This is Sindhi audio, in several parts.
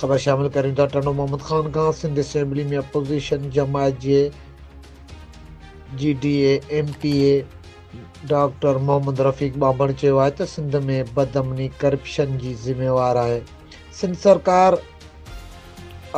خبر شامل ڪريون ٿا ٽنڊو محمد خان کان سنڌ اسيمبلي ۾ اپوزيشن جماعت جي G D A M P A doctor Muhammad Rafiq ٻانڀڻ چيو آهي ته سنڌ ۾ بدامني ڪرپشن جي ذميوار آهي سنڌ سرڪار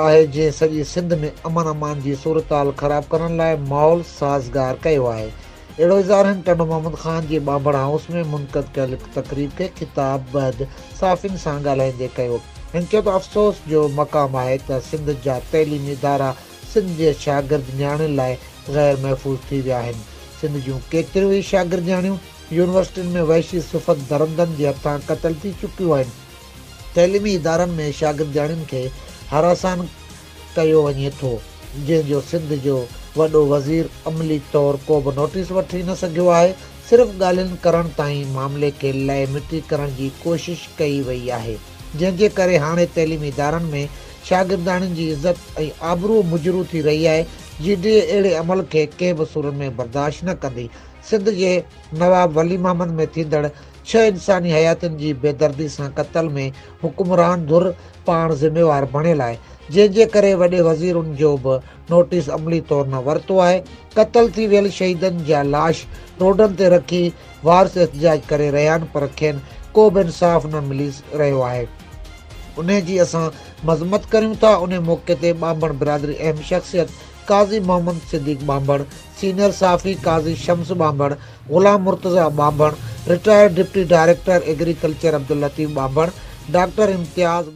آهي جنهن سڄي سنڌ ۾ امن امان جي صورتحال خراب ڪرڻ لاء ماحول سازگار ڪيو آهي اهڙو اظهار هن ٽنڊو محمد خان جي ٻانڀڻ هائوس ۾ منعقد ڪيل هڪ تقريب کي خطاب بعد صحافين سان ڳالهائيندي ڪيو هن چيو ته افسوس جو مقام آهي ته سنڌ جا تعليمي ادارا سنڌ جي شاگرد نياڻين لاء غير محفوظ ٿي ويا آهن سنڌ جون ڪيتريون ئي شاگردياڻيون يونيورسٽين ۾ وحشي صفت درندن جي هٿان قتل ٿي چڪيون آهن تعليمي ادارن ۾ شاگردياڻين کي هراسان ڪيو وڃي ٿو جنهن جو سنڌ جو وڏو وزير عملي طور ڪوبه نوٽيس وٺي نه سگهيو آهي صرف ڳالهين ڪرڻ تائين معاملي کي لئه مٽي ڪرڻ جي ڪوشش ڪئي وئي آهي جنهن جي ڪري هاڻي تعليمي ادارن ۾ شاگردياڻين جي عزت ۽ آبرو مجروح ٿي رهي آهي جي ڊي اي اهڙي عمل کي ڪنهن به صورت ۾ برداشت نه ڪندي سنڌ جي نواب ولي محمد ۾ ٿيندڙ ڇهه انساني حياتين جي بيدردي سان قتل ۾ حڪمران ڌر پاڻ ذميوار بڻيل آهي جنهن جي ڪري وڏي وزير ان جو به نوٽيس عملي طور نه ورتو آهي قتل ٿي ويل شهيدن جا لاش روڊن تي رکي وارث احتجاج ڪري رهيا آهن پر کين ڪو به انصاف نه ملي رهيو آهي انهي جي اسان مذمت ڪريون ٿا انهي موقعي تي ٻانڀڻ برادري اهم شخصيت قاضي محمد صديق ٻانڀڻ سينيئر صحافي قاضي شمس ٻانڀڻ، غلام مرتضيٰ ٻانڀڻ، retired deputy director agriculture Abdul Latif ٻانڀڻ، ڊاڪٽر امتياز.